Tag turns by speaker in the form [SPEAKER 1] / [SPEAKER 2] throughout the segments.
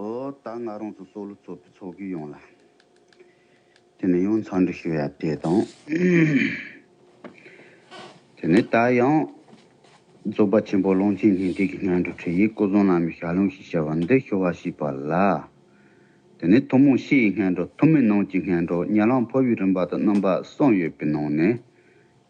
[SPEAKER 1] ཨོ། ད་ང་རང་ཚོ་སོག་ལུ་ཚོ་པའི་ཚོགས་ཀྱི་ཡོང་ལ། དེ་ནས་ཡང་ཚང་འདྲི་ཞུ་ཡ་དེ་དང། དེ་ནས་ད་ཡང། རྫོགས་པ་ཆེན་པོ་ཀློང་ཆེན་སྙིང་ཐིག་གི་སྔན་འགྲོ་ཁྲིད་ཡིག་སྐུ་གསུང་ལམ་གྱི་ཞལ་ལུང་ཞེས་བྱ་བ་འདི་ཤོ་བ་ཞིག་པ་ལ། དེ་ནས་ཐུན་མོང་ཕྱི་ཡི་སྔན་འགྲོ་ཐུན་མིན་ནང་གྱི་སྔན་འགྲོ་ཉེ་ལམ་ཕོ་བའི་རིམ་པ་དང་རྣམ་པ་གསུམ་ཡོད་པའི་ནང་ནས།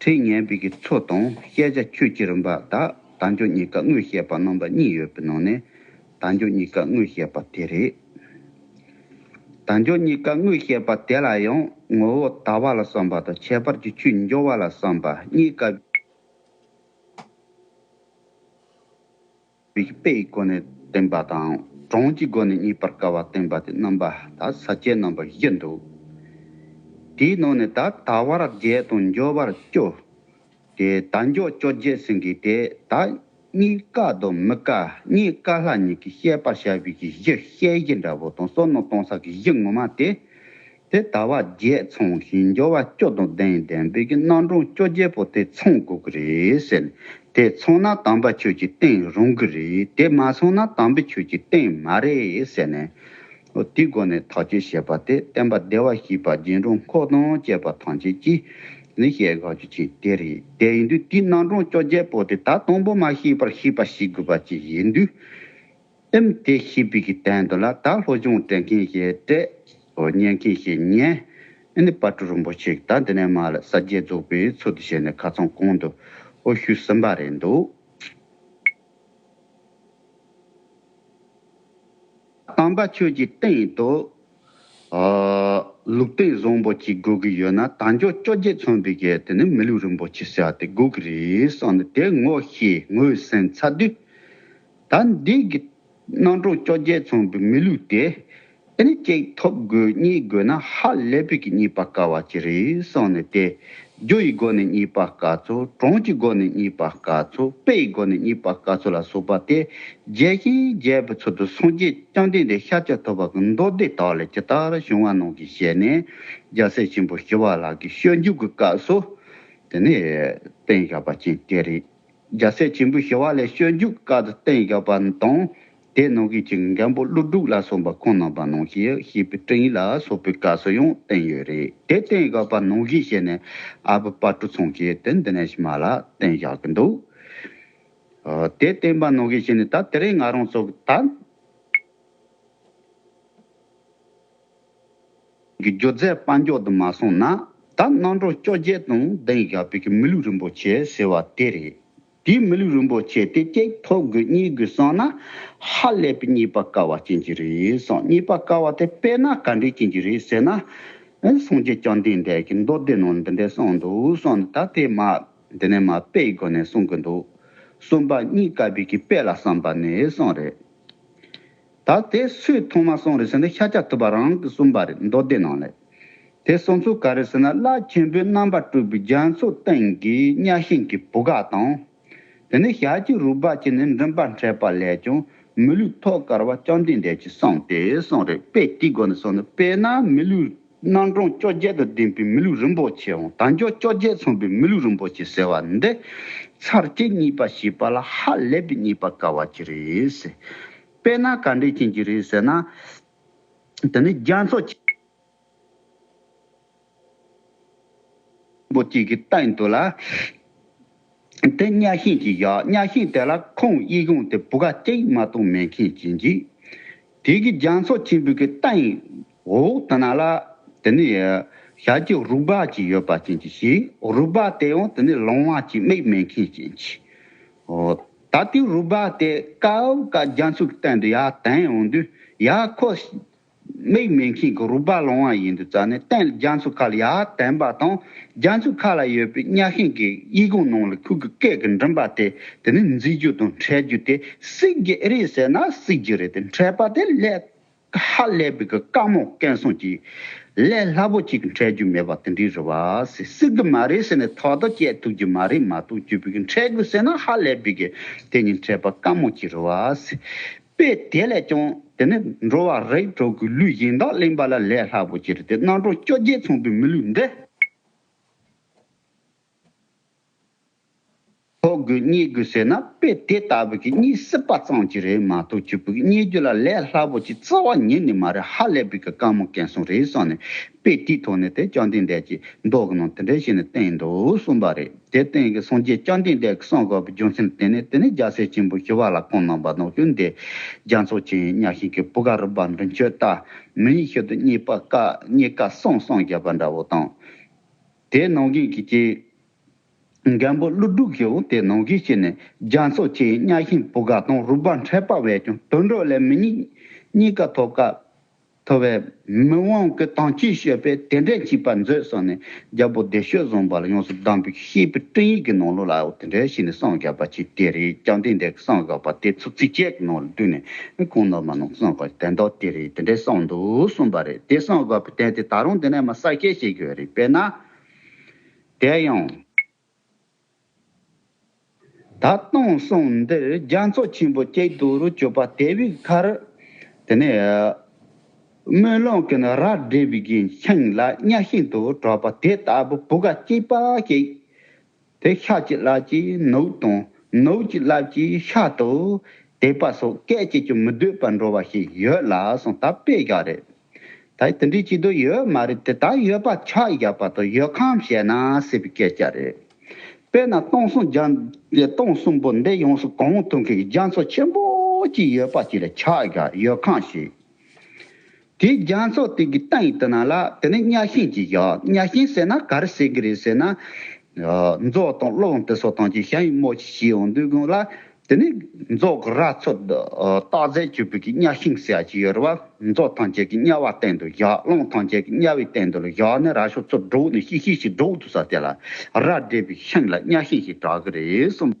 [SPEAKER 1] ཁྲིད་ཉན་པའི་གི་ཚོ་དང་བཤད་བྱ་ཁྱོད་ཀྱི་རིམ་པ་དག་དང་ཆོས་གཉིས་ཀ་དངོས་བཤད་པ་རྣམ་པ་གཉིས་ཡོད་པའི་ནང་ནས་དང་ཆོས་གཉིས་ཀ་དངོས་བཤད་པ་དེ་རེད། དང་ཆོས་གཉིས་ཀ་དངོས་བཤད་པ་དེ་ལ་ཡང་ངོ་བོ་ལྟ་བ་ལ་བསམ་པ་དང་ཁྱད་པར་གྱི་ཆོས་འབྱུང་བ་ལ་བསམ་པ་གཉིས་ཀ། རིགས་པའི་སྒོ་ནས་བསྟན་པ་དང་གྲངས་ཀྱི་སྒོ་ནས་རྙེད་པར་དཀའ་བ་བསྟན་པ་དེ་རྣམ་པ་ད་ས་བཅད་རྣམ་པ་བཞི་འདུག། དེའི་ནང་ནས་ད་ལྟ་བར་བརྒྱད་དང་འགྱོད་པར་སྐྱོ། དེ་ད་འགྱོད་སྐྱོ་བརྒྱད་ཟིན་གྱི་དེ་ད་གཉིས་དཀའ་དང་མི་དཀའ་གཉིས་དཀའ་ལྷ་གཉིས་ཀྱི་བཤད་པར་བྱ་བའི་གཞི་བཤད་གཞི་འདྲ་བོ་དང་བསོད་ནམས་གཏོང་ས་གི་གཞི་ངོ་མ་དེ་དེ་ལྟ་བ་བརྒྱད་ཚང་ཞིང་སྦྱོར་བ་སྐྱོ་དང་ལྡན་ལྡན་པས་ཀྱི་རྣམ་གྲངས་སྐྱོ་བརྒྱད་པོ་དེ་ཚང་དགོས་ཀྱི་རེད་ཟེར། དེ་ཚང་ན་དམ་པ་ཁྱོད་ཀྱི་བསྟེན་རུང་གི་རེད་དེ་མ་ཚང་ན་དམ་པས་ཁྱོད་ཀྱི་བསྟེན་མ་རེད་ཟེར་ནས། དེའི་སྒོ་ནས་ཐག་གཅོད་བྱེད་པ་དེ་བསྟན་པ་བདེ་བར་གཤེགས་པ་རྗེ་འབྲོང་ཁོག་དང་བཅས་པ་ཐམས་ཅད་ཀྱིས་ནི་བཤད་དགག་བརྗོད་བྱེད་དེ་རེད་དེ་ཡིན་དུས་དེའི་རྣམ་གྲངས་སྐྱོ་བརྒྱད་པོ་དེ་ད་དང་པོ་མ་ཤེས་པར་ཤེས་པ་ཞིག་དགོས་པ་ཅིག་ཡིན་དུས། ཨིམ་ཏེ་ཤི་བི་གི་སྟེང་དུ་ལ་དྭགས་ལྷོ་ལྗོངས་དྲན་མཁན་ཞེས་སྤྲད། སོ་སྙན་མཁན་ཞེས་སྙན། ཨེ་ནི་བ་ཀྲུ་རིན་པོ་ཆེས་ད་འདི་ནས་མ་ལ་ས་བརྒྱད་རྫོགས་པའི་ཚུལ་དུ་བྱས་ནས་ག་ཚང་གོང་དུ་ཨོ་ཤུལ་ཟིན་པ་རེད་འདུག། སྟོན་པ་ཆོས་ཀྱི་སྟེང་དུ། ལུགས་སྟེང་བཟང་པོ་གཅིག་དགོས་ཀྱི་ཡོད་ན་ད་འཇོག་བཅོ་བརྒྱད་མཚོན་པའི་གལ་ཏེ་ནི་མི་ལུས་རིན་པོ་ཆེ་བྱ་སྟེ་དགོས་ཀྱི་རེད་བསམ་ནས་དེ་ངོ་ཤེས་ངོས་ཟིན་ཚར་དུས། ད་འདི་གི། སྣང་གྲོགས་བཅོ་བརྒྱད་ཚང་བུ་མི་ལུས་ཏེ། དེ་ནི་གཅིག་ཐོབ་དགོས་གཉིས་དགོས་ན་ཧ་ལས་པོས་ཀྱི་གཉིས་པ་དཀའ་བ་ཅི་རེད་སོང་ནས་ཏེ། རྒྱུ་ཡི་སྒོ་ནས་གཉིས་པ་དཀའ་ཚུལ་གྲོང་གྱི་སྒོ་ནས་གཉིས་པ་དཀའ་ཚུལ་དཔེ་ཡི་སྒོ་ནས་གཉིས་པ་དཀའ་ཚུལ་ལ་སོགས་པ་སྟེ། རྒྱས་ཤིང་རྒྱས་པའི་ཚུལ་དུ་སངས་རྒྱས་བསྐྱངས་ལྡན་འདས་ཤཱ་ཀྱ་ཐུབ་པ་གྱི་མདོ་སྡེ་དག་ལས་ཇི་ལྟར་བྱུང་བ་ནང་གི་ཞལ་ནས་རྒྱལ་སྲས་ཆེན་པོ་ཞི་བ་ལགས་ཀྱི་ཤོད་འཇུག་གི་སྐབས་སུ། དེ་ནི་བསྟན་བཞག་པ་ཅན་དེ་རེད། རྒྱལ་སྲས་ཆེན་པོའི་ཞི་བ་ལས་སྤྱོད་འཇུག་བཀའ་བསྟན་བཞག་པ་དང། དེའི་ནང་གི་ཅིང་འཇམ་པོ་ཀླུ་སྒྲུག་ལ་སོགས་པ་ཁོང་རྣམ་པ་ནང་བཞིན་ཞེས་པའི་སྤྲིངས་ལ་སོགས་པའི་བཀའ་སྲོལ་ཡང་བསྟན་ཡོད་རེད་དེ་བསྟན་བཞག་པ་ནང་བཞིན་བྱས་ནས་ཨ་བུ་དཔའ་གྲུ་ཚང་ཞེས་དེ་འདི་ནས་ཕྱི་མ་ལ་བསྟན་བཞག་གི་འདུག་དེ་བསྟན་པ་ནང་བཞིན་བྱས་ནས་ད་དེ་རིང་ང་རང་ཚོ་ད། གི་སྒྱུ་རྩལ་དཔའ་མགྱོགས་དུ་མ་སོང་ན་ད་གནང་གྲོགས་སྐྱོ་རྒྱལ་དང་ལྡན་ཞག་བོད་ཀྱི་མི་ལུས་རིན་པོ་ཆེ་ཟེར་བ་དེ་རེད་དེའི་མི་ལུས་རིན་པོ་ཆེ་དེ་གཅིག་ཐོབ་དགོས་གཉིས་དགོས་སོང་ན་ཧ་ལས་པའི་གཉིས་པ་དཀའ་བ་ཅན་གྱི་རེད་སོང་གཉིས་པ་དཀའ་བ་དེ་དཔེ་ན་ག་འདྲས་ཅན་གྱི་རེད་ཟེར་ན་ཨེ་སོང་རྗེ་བསྐྱངས་ལྡན་འདས་ཀྱི་མདོ་སྡེ་ནང་འདི་འདྲས་གསུངས་འདུག་སོང་ན་ད་དེ་མ་འདི་ནས་མ་དཔེ་ཡི་སྒོ་ནས་གསུང་གི་འདུག་གསུམ་པ་གཉིས་དཀའ་བོད་ཀྱི་དཔེ་ལ་བསམ་པ་ནས་ཨེ་སོང་རེད། ད་དེ་སུས་མཐོང་མ་སོང་རེད་ཟེར་ན་ཤ་ཆག་ཐུབ་པ་རང་གི་གསུངས་པ་རེད་མདོ་སྡེ་ནང་ལས། དེ་སོང་ཚུལ་ག་རེད་ཟེར་ན་བླ་ཆེན་པོའི་རྣམ་པར་སྤྲུལ་པའི་རྒྱ་མཚོ་སྟེང་གི་གཉའ་ཤིང་གི་བུ་ག་དང། དེ་ནས་ཞལ་གྱི་རུས་སྦལ་གྱི་ནི་མགྲིན་པར་འཕྲད་པ་ལས་ཀྱང་མི་ལུས་ཐོག་དཀར་བ་སྤྱང་ལྡེང་འདྲས་ཀྱི་གསང་དེ་གསང་རེད་དཔེ་དེའི་སྒོ་ནས་སོང་ན་དཔེར་ན་མི་ལུས། སྣང་གྲོང་བཅོ་བརྒྱད་དང་ལྡན་པའི་མི་ལུས་རིན་པོ་ཆེ་འོང་དང་མགྱོགས་བཅོ་བརྒྱད་མཚུངས་པའི་མི་ལུས་རིན་པོ་ཆེ་ཟེར་བ་འདི། ཚར་བཅད་གཉིས་པ་ཞེས་པ་ལ་ཧ་ལས་པའི་གཉིས་པ་དཀའ་བ་ཅི་རེད་ཟེར། དཔེར་ན་ག་འདྲའི་རྐྱེན་གྱིས་རེད་ཟེར་ན། དེ་ནི་རྒྱ་མཚོ་ཆེན་པོ་གཅིག་གི་སྟེང་དུ་ལ། དེ་གཉའ་ཤིང་གིས་བཞག་གཉའ་ཤིང་དེ་ལ་ཁོང་དབྱིག་ཡུང་སྟེ་བུ་ག་སྐྱེགས་མ་དུང་མེ་མཁན་གྱིས་འཇིག། དེ་གིས་རྒྱ་མཚོ་ཆེན་པོའི་གི་རྟ་ཡིན། འོག་ཏུ་ན་ལ། དེ་ནི། ཞལ་གྱི་རུས་སྦལ་གྱིས་ཡོད་པ་ཅན་གྱིས་ཤིག། རུས་སྦལ་དེ་ཡང་དེ་ནི་ལོང་བ་གྱིས་མིག་མེད་མཁན་ཅན་གྱིས། ད་དེའི་རུས་སྦལ་དེས་ཀའོ་ཀ་རྒྱ་མཚོའི་གཏན་དུ་ཡ་དན་ཡོང་དུས་ཡ་ཁོ། མིག་མི་མཁྱེན་གུ་རུ་དཔའ་ལོང་བ་ཡིན་དུ་རྩ་ནས་བསྟན་རྒྱ་མཚོ་མཁའ་ལ་ཡར་བསྟན་པ་དང་རྒྱ་མཚོའི་མཁའ་ལ་ཡོད་པའི་གཉའ་ཤིང་གི་དབྱིག་གུང་ནང་ལ་ཁུག་གི་སྐད་ཀྱི་མགྲིན་པ་དེ་དེ་ནི་འཛིན་རྒྱུ་དང་འཕྲད་རྒྱུ་དེ་སིག་རྒྱ་རེད་ཟེར་ན་སིག་རྒྱུ་རེད་དེ་འཕྲད་པ་དེ་ལས་ཧ་ལས་པའི་གི་དཀའ་མོ་སྐལ་བཟང་གྱིས་ལས་སླ་པོ་གཅིག་འཕྲད་རྒྱུ་མེད་པ་དེ་འདྲའི་རེད་བ་ཟེར་སིག་གི་མ་རེད་ཟེར་ནས་ཐོག་ཐོག་བསྐྱལ་ཐུབ་རྒྱུ་མ་རེད་མ་གཏོགས་བརྒྱུད་པའི་གི་འཕྲད་དགོས་ཟེར་ན་ཧ་ལས་པའི་གི་དེ་གཉིས་འཕྲད་པ་དཀའ་མོ་གཅིག་རེད་བ་ཟེར། དཔེ་དེ་ལས་ཀྱང་དེ་ནི་འགྲོ་བ་རིགས་དྲུག་གི་ལུས་གཞན་དག་གླེང་བ་ལ་ལས་སླ་པོ་གྱུར་ཏེ་རྣལ་འབྱོར་བཅོ་བརྒྱད་མཚུངས་པའི་མི་ལུས་འདི། ཐོ་དགོས་རྙེད་དགོས་ཟེར་ན་དཔེ་དེ་ལྟ་བུ་གྱི་གཉིད་སྲིད་པ་ཙམ་གྱིས་རེད་མ་གཏོགས་ཆོས་པོའི་རྙེད་རྒྱུ་ལ་ལས་སླ་པོ་གྱི་བརྩི་བ་ཉིད་ནི་མ་རེད་ཧ་ལས་པའི་གི་དཀར་མོ་གན་སོང་རེད་གསུངས་ནས་དཔེ་དེའི་ཐོག་ནས་དེ་བཅོམ་ལྡན་འདས་ཀྱིས་མདོ་གི་ནང་དེ་འདྲའི་ཞིག་ནས་བསྟན་འདུག་གསུངས་པ་རེད། དེའི་སྟེང་གི་སངས་རྒྱས་བཅོམ་ལྡན་འདས་ཀྱི་གསུང་གོ་བའི་རྒྱུ་མཚན་དེ་ནི་དེ་ནས་རྒྱལ་སྲས་ཆེན་པོ་ཞི་བ་ལ་སྐུ་སྣང་བ་དང་བསྟུན་ཏེ། རྒྱ་མཚོ་ཆེན་གཉའ་ཤིང་གི་བུ་ག་རུ་བབས་མདུན་མཆོད་བཏགས། མི་ཡི་ཤུལ་དུ་གཉིས་པ་ཀ་གཉིས་ཀ་གསང་གསང་རྒྱས་པ་འདྲ་བོ་དང། དེའི་ནང་གི་གི་ཀྱི། མགན་པོ་ཀླུ་སྒྲུབ་ཀྱིའོ་དེའི་ནང་གི་ཤིས་ནི་རྒྱ་མཚོ་ཆེན་གཉའ་ཤིང་བུ་ག་དང་རུ་བབས་འཕྲད་པ་བས་ཀྱང་དུད་འགྲོ་ལས་མི་གཉིས་གཉིས་ཀ་ཐོབ་ཀ། ཐོ་བས། མི་དབང་གི་དང་ཅི་བཤད་པས་དེ་འདྲས་བྱས་པར་མཛོད་གསུངས་ནས་རྒྱལ་པོ་བདེ་གཤེགས་བཟང་པ་ལ་ཡོངས་སུ་གདམས་པའི་ཤེས་པའི་སྤྲིང་ཡིག་གི་ནང་ལུགས་ལ་དེ་འདྲས་བྱས་ནས་སངས་རྒྱས་པར་བྱས་དེ་རེས་ཀྱང་དེ་འདྲས་ཀྱི་སངས་རྒྱས་པ་དེ་ཚོ་ཚིགས་བཅད་ཀྱི་ནང་ལ་བསྡུས་ནས་གང་ནོར་མ་ནོར་སངས་རྒྱས་དོན་དག་དེ་རེས་དེ་འདྲས་གསུངས་འདུག་གསུངས་པ་རེད་དེ་སངས་རྒྱས་པའི་དོན་དེ་ད་རུང་དེ་ནས་མ་གསལ་སྐད་བཤད་དགོས་རེད་དཔེར་ན། དེ་ཡང། ད་སྟོང་གསུམ་འདིར་རྒྱ་མཚོ་ཆེན་པོ་སྐྱེ་སྡུག་རུ་གྱུར་པ་དེ་བས་ཁར། དེ་ནས་དམུས་ལོང་གི་ར་སྒྲིབ་བཞིན་ཁེངས་ལ་གཉའ་ཤིན་ཏུ་གྲོགས་པ་དེ་ལྟ་བུ་བུ་ག་སྐྱེས་པ་ཞིག། དེ་ཤ་གཅིག་ལག་གཅིག་ནུབ་དང་ནུབ་གཅིག་ལག་གཅིག་ཤ་ཏུ་དེད་པ་སོགས་སྐད་ཅིག་ཀྱང་མི་སྡོད་པར་འགྲོ་བ་ཞིག་ཡོད་ལ་སོང་ད་དཔེ་བཞག་རེད། ད་དེ་འདྲའི་སྐྱིད་སྡུག་ཡོད་མ་རེད་དེ་དག་ཡོད་པ་ཕྱག་བཞག་པ་དང་ཡོད་ཁམས་བཤད་ན་སྲིད་པའི་སྐད་ཆ་རེད། དཔེར་ན་སྟོང་གསུམ་རྒྱ་ཡི་སྟོང་གསུམ་པོ་འདི་ཡོངས་སུ་གང་ཐུབ་མཁན་གྱི་རྒྱ་མཚོ་ཆེན་པོ་གཅིག་ཡོད་པ་གཅིག་ལ་ཕྱག་བཞག་ཡོད་ཁམས་བཤད། དེའི་རྒྱ་མཚོ་དེ་གི་སྟེང་དུ་ན་ལ་དེ་ནི་གཉའ་ཤིང་གཅིག་བཞག་གཉའ་ཤིང་ཟེར་ན་ག་རེ་ཟེར་གི་རེད་ཟེར་ན། རྫོགས་དང་བློ་དང་དེ་སོགས་དང་གཅིག་ཞྭ་ཡི་རྨོ་ཆེ་ཞིག་འོང་དུས་དགུང་ལ་དེ་ནས་རྫོགས་ར་ཚོད་བརྟག་རྫས་བཅུ་པོད་ཀྱི་གཉའ་ཤིང་བསལ་གྱི་ཡོ་རོ་བ་རྫོགས་ཐང་ཅད་ཀྱི་གཉའ་བ་སྟེང་དུ་བཞག་རླུང་ཐང་ཅད་ཀྱི་གཉའ་བའི་སྟེང་དུ་ལ་བཞག་ནས་ར་ཤོ་ཚོད་དྲུག་ནས་ཤིག་ཤིག་ཤིག་དྲུག་ཏུ་ས་དེ་ལ་ར་འདྲེས་པའི་ཤིང་ལ་གཉའ་ཤིང་ཞེས་གྲག་གི་རེད་གསུངས།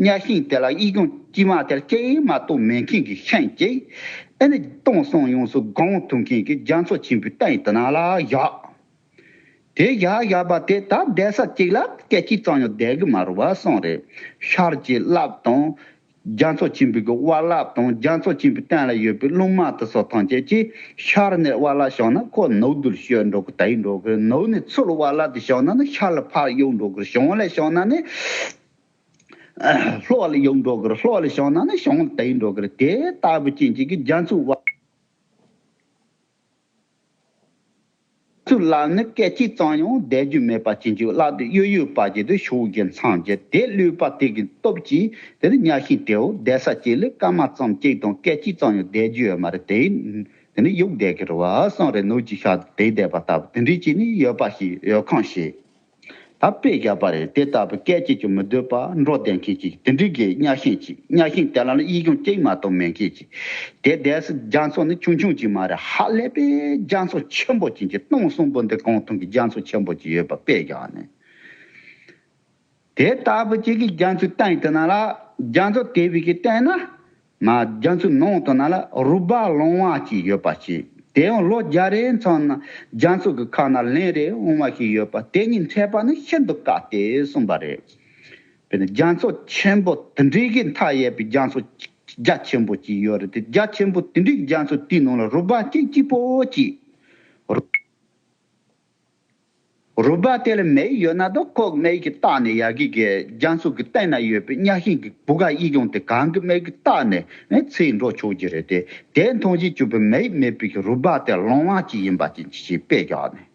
[SPEAKER 1] གཉའ་ཤིང་དེ་ལ་དབྱིག་སྐྱོང་དཀྱིལ་མ་དེར་སྐྱེ་ཡི་མ་གཏོགས་མེད་མཁན་གྱི་ཤན་གྱིས། ཨེ་ནི་སྟོང་སོང་ཡོངས་སུ་དགོངས་ཐུབ་མཁན་གྱི་རྒྱ་མཚོ་ཆེན་པོའི་རྟ་ཡི་དུ་ནག་ལ་བཞག། དེ་བཞག་བཞག་པ་དེ་ད་བསྡད་ས་གཅིག་ལ་སྐད་ཅིག་ཙམ་ཡང་བསྡད་གི་མ་རུང་བ་སོང་རེད། ཤར་གྱི་རླབས་དང། རྒྱ་མཚོ་ཆེན་པོའི་དབའ་རླབས་དང་རྒྱ་མཚོ་ཆེན་པོའི་སྟེང་ལ་ཡོད་པའི་རླུང་དམར་དུ་སོགས་ཐམས་ཅད་ཀྱིས་ཤར་ནས་དབའ་རླབས་བྱུང་ན་ཁོ་ནུབ་རྡུལ་བཤོལ་འགྲོ་གི་དེ་ཡིན་འགྲོ་གི་ནུབ་ནས་ཚུར་དབའ་རླབས་དེ་བྱུང་ན་ནི་ཤར་ལ་ཕར་གཡུག་འགྲོ་གི་བྱུང་ལས་བྱུང་ན་ནི། ལྷོ་ལ་ཡོད་འགྲོ་གིར་ལྷོ་ལ་བྱང་ན་ནི་བྱང་ལ་དེ་ཡིན་འགྲོ་གིར་དེ་ལྟ་བུ་ཅན་གྱི་གི་རྒྱ་མཚོའི་བ་ཚུར་ལ་ནི་སྐད་ཅིག་ཙམ་ཡང་བཟླས་རྒྱུ་མེད་པ་ཅན་གྱི་གླགས་དེ་གཡོ་ཡོད་པ་བརྒྱད་དུ་ཕྱོགས་བརྒྱད་མཚམས་བརྒྱད་དེ་བསླུས་པ་དེ་གི་སྟོབས་ཀྱིས་དེར་བསྙགས་ཤིང་དེའུ་བཟླས་ས་གཅིག་ལས་སྐར་མ་ཙམ་གཅིག་དང་སྐད་ཅིག་ཙམ་ཡང་བཟླས་རྒྱུ་ཡོད་མ་རེད་དེ་དེ་ནི་ཡུག་བཟླས་གིར་བ་སངས་རེ་ནུར་གྱིས་ཤར་དུ་དེ་བཟླས་པ་ལྟ་བུ་དེ་འདྲའི་ཅིག་ནི་ཡོད་པ་ཞིག་ཡོད་ཁང་ཞིག། ད་དཔེ་བཞག་པ་རེད་དེ་ལྟ་བུ་སྐད་ཅིག་ཀྱང་མི་སྡོད་པ་འགྲོ་བསྡད་མཁན་ཅིག་དེ་འགྲིག་གི་གཉའ་ཤིང་ཅིག་གཉའ་ཤིང་དེ་ལ་ལ་གཡིས་ཀྱང་ཅིག་མ་གཏོགས་མེད་མཁན་ཅིག་དེ་འདས་སོ་རྒྱ་མཚོ་ནི་ཆུང་ཆུང་ཅིག་མ་རེད་ཧ་ལས་པའི་རྒྱ་མཚོ་ཆེན་པོ་ཅིག་གི་སྟོང་གསུམ་པོ་འདི་གང་ཐུང་གི་རྒྱ་མཚོ་ཆེན་པོ་ཅིག་ཡོད་པ་དཔེ་བཞག་ནས་དེ་ལྟ་བུ་ཅིག་གི་རྒྱ་མཚོའི་སྟེང་དུ་ན་ལ་རྒྱ་མཚོ་དེ་བས་ཀྱི་སྟེང་ན་ང་རྒྱ་མཚོའི་ནང་དུ་ན་ལ་རུ་སྦ་ལོང་བ་ཅིག་ཡོད་པ་ཤེས། དེ་ཡང་ལོ་བརྒྱ་རེའི་མཚམས་ན་རྒྱ་མཚོ་གི་ཁ་ན་ལན་རེ་འོང་བ་ཞིག་ཡོད་པ་དེ་གཉིས་འཕྲད་པ་ནི་ཤིན་ཏུ་དཀའ་སྟེ་གསུངས་པ་རེད། དཔེར་ན་རྒྱ་མཚོ་ཆེན་པོ་དེ་འདྲའི་གི་མཐའ་ཡས་པའི་རྒྱ་མཚོ་རྒྱ་ཆེན་པོ་ཅིག་ཡོད་རེད་དེ་རྒྱ་ཆེན་པོ་དེ་འདྲའི་རྒྱ་མཚོ་དེའི་ནང་ལ་རུ་སྦ་སྐྱིད་སྐྱིད་པོ་ཅིག་རུ། རུ་སྦ་དེར་མེ་ཡིས་ཡོད་ན་དོ་ལྐོག་མེ་ཡིས་ཀྱིས་བཏགས་ནས་ཡ་གི་གའི་རྒྱང་སྲུབ་ཀྱི་སྟེང་ན་ཡོད་པའི་གཉའ་ཤིང་གི་བུ་ག་ཡིས་ཀྱང་དེ་གང་གི་མེ་ཡིས་ཀྱིས་བཏགས་ནས་ཚིག་འགྲོ་ཆོག་གྱི་རེད་དེ། དེ་མཐོང་བཞིན་གྱུར་པའི་མེ་ཡིས་མེ་སྤུས་ཀྱི་རུ་སྦ་དེ་ལོང་བ་ཅིག་ཡིན་པ་ཅི་མཆིས་ཞེས་དཔེ་བཞག་ནས།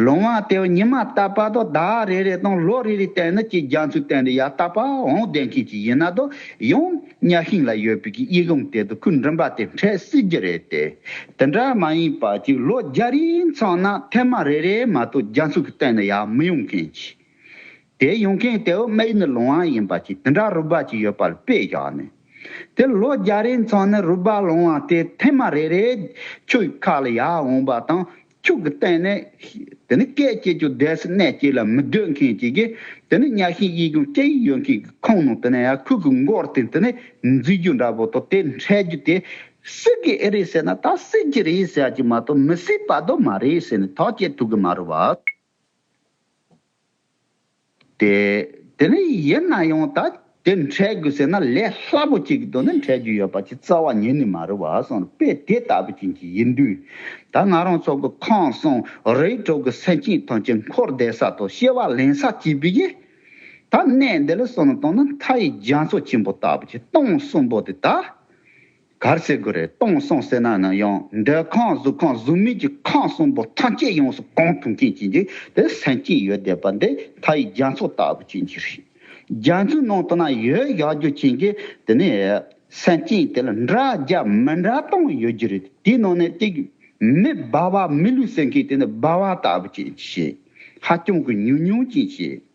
[SPEAKER 1] ལོང་བ་དེའོ་ཉི་མ་རྟ་པ་དང་ཟླ་བ་རེ་རེ་དང་ལོ་རེ་རེའི་སྟེང་ན་ཀྱི་རྒྱང་ཚུལ་སྟེང་ནས་ཡར་རྟ་པ་འོང་བསྡད་མཁན་ཅིག་ཡིན་ན་དོ་ཡང། གཉའ་ཤིང་ལ་ཡོད་པའི་གི་དབྱིག་རླུང་དེ་དུ་ཁུར་འགྲིམ་པ་དེ་འཕྲད་སྲིད་རྒྱུ་རེད་དེ། དེ་འདྲ་མ་ཡིན་པ་གཅིག་ལོ་བརྒྱ་རིང་ཚང་ན་ཐེངས་མ་རེ་རེ་མ་གཏོགས་རྒྱ་མཚོ་གི་སྟེང་ན་ཡར་མི་ཡོང་མཁན་གྱི། དེ་ཡོང་མཁན་དེའུ་སྨད་ནི་ལུང་བ་ཡིན་པ་གཅིག་དེ་འདྲ་རུ་སྦལ་གཅིག་ཡོད་པ་ལ་དཔེ་བཞག་ནས། དེ་ལོ་བརྒྱ་རིང་ཚང་ན་རུ་སྦལ་ལུང་བ་དེ་ཐེངས་མ་རེ་རེ་ཁྱོད་ཀྱི་ཁ་ལ་ཡར་འོང་པ་དང། ཁྱུག་གི་བསྟན་ནས། དེ་ནི་སྐད་ཅིག་ཆུ་ཟླའི་སེར་སྣས་བསྐྱིལ་ལ་མི་སྡོད་མཁན་གྱི་གི། དེ་ནི་གཉའ་ཤིང་གཡས་གཡོན་སྐྱ་ཡིག་ཡོད་མཁན་གྱི་ཁང་ནང་དེ་ནས་ཡ་ཁུག་གི་མགོར་བསྟན་དེ་ནི་འཛུལ་རྒྱུ་འདྲ་བོ་དང་དེ་འཕྲད་རྒྱུ་དེ། སྲིད་ཀྱི་ཨེ་རེད་ཟེར་ན་ད་སྲིད་ཀྱི་རེད་ཟེར་གྱི་མ་གཏོགས་མི་སྲིད་པ་དུ་མ་རེད་ཟེར་ནས་ཐག་བཅད་ཐུབ་གི་མ་རེད་བ། ཏེ། དེ་ནི་ཡིན་ན་ཡང་ད་དེ་འཕྲད་དགོས་ཟེར་ན་ལས་སླ་པོ་གཅིག་གི་དོན་ནི་འཕྲད་རྒྱུ་ཡོད་པ་ཆེས་རྩ་བ་ཉིད་ནས་མ་རེད་བ་སོང་རེད་དཔེ་དེ་ལྟ་བུ་ཅན་གྱི་ཡིན་དུས། ད་ང་རང་ཚོ་གི་ཁང་བཟང་རེའི་གྲོགས་ཀྱི་སེམས་ཅན་ཐམས་ཅད་འཁོར་འདས་ས་ཐོག་ཤེས་བ་ལེན་ས་བྱས་པས་ཡིན། ད་གནས་འདི་ལ་སོང་ནས་བལྟ་ན་མཐའ་ཡི་རྒྱ་མཚོ་ཆེན་པོ་ལྟ་བུ་ཆེ་སྟོང་གསུམ་པོ་དེ་ད། གར་སེ་གུ་རེ་གཏོང་སོང་ཟེར་ན་ནི་ཡང་འདོད་ཁང་གཟུགས་ཁང་གཟུགས་མེད་ཀྱི་ཁང་གསུམ་པོ་ཐམས་ཅད་ཡོངས་སུ་གང་ཐུབ་མཁན་གྱིས་འདི་དེ་སེམས་ཅན་ཡོད་བསྡད་པ་འདི་མཐའ་ཡི་རྒྱ་མཚོ་ལྟ་བུ་ཅན་གྱི་རིགས་རྒྱ་མཚོའི་ནང་དུ་ན་ཡོད་གཞག་རྒྱུ་ཅན་གྱི་དེ་ནས་སེམས་ཅན་དེ་ལ་འདྲ་རྒྱ་མི་འདྲ་སྟོང་ཡོད་རྒྱུ་རེད་དེ་དེའི་ནང་ནས་དེ་མི་སྦ་བ་མི་ལུས་སེམས་མཁན་དེ་ནི་སྦ་བ་ལྟ་བུ་ཅན་གྱི་ཞེས་ཧ་ཅང་གི་ཉུང་ཉུང་ཅན་གྱིས།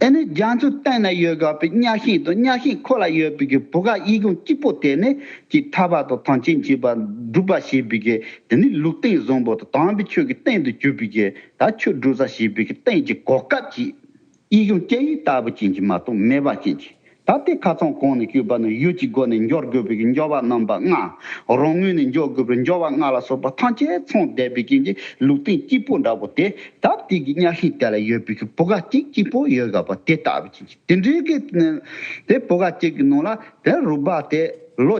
[SPEAKER 1] དེ་ནི་རྒྱ་མཚོའི་སྟེང་ན་ཡོད་དགའ་བའི་གཉའ་ཤིང་དང་གཉའ་ཤིང་ཁོ་ལ་ཡོད་པའི་བུ་ག་དབྱིག་ཀུན་གཅིག་པོ་དེ་ནི་ཀྱི་ཐར་པ་དང་ཐང་ཆེན་གྱི་བ་སྒྲུབ་པ་ཞེས་པའི་གི་དེ་ནི་ལུགས་སྟེང་བཟང་པོ་དང་དམ་པའི་ཆོས་ཀྱི་སྟེང་དུ་གྱུར་པའི་གི་ད་ཆོས་སྒྲུབ་ས་ཞེས་པའི་གི་སྟེང་གི་གོ་སྐབས་ཀྱིས་དབྱིག་ཀུན་སྐྱེ་ཡུལ་ལྟ་བུ་ཅན་གྱི་མ་དང་མེ་བ་ཅན་གྱི་ད་ལྟའི་ཁ་ཚོན་གང་ནས་བསྐྱུར་བ་ནི་ཡུལ་གྱི་སྒོ་ནས་འབྱོར་དགོས་པའི་འབྱོར་བ་རྣམ་པ་ལྔ། རང་ངོས་ནས་འབྱོར་དགོས་པའི་འབྱོར་བ་ལྔ་ལ་སོགས་པ་ཐམས་ཅད་མཚུངས་བསྡེབས་པའི་རྐྱེན་གྱིས་ལུགས་བསྟན་སྐྱིད་པོ་འདྲ་བོ་དེ་ད་ལྟའི་གི་གཉའ་ཤིང་དེ་ལ་ཡོད་པའི་གི་བུ་ག་གཅིག་སྐྱིད་པོ་ཡོད་དགའ་བ་དེ་ལྟ་བུའི་རྐྱེན་གྱིས་དེ་འདྲའི་གི་དེ་བུ་ག་གཅིག་གི་ནང་ལ་དེ་རུ་སྦ་སྟེ་ལོ།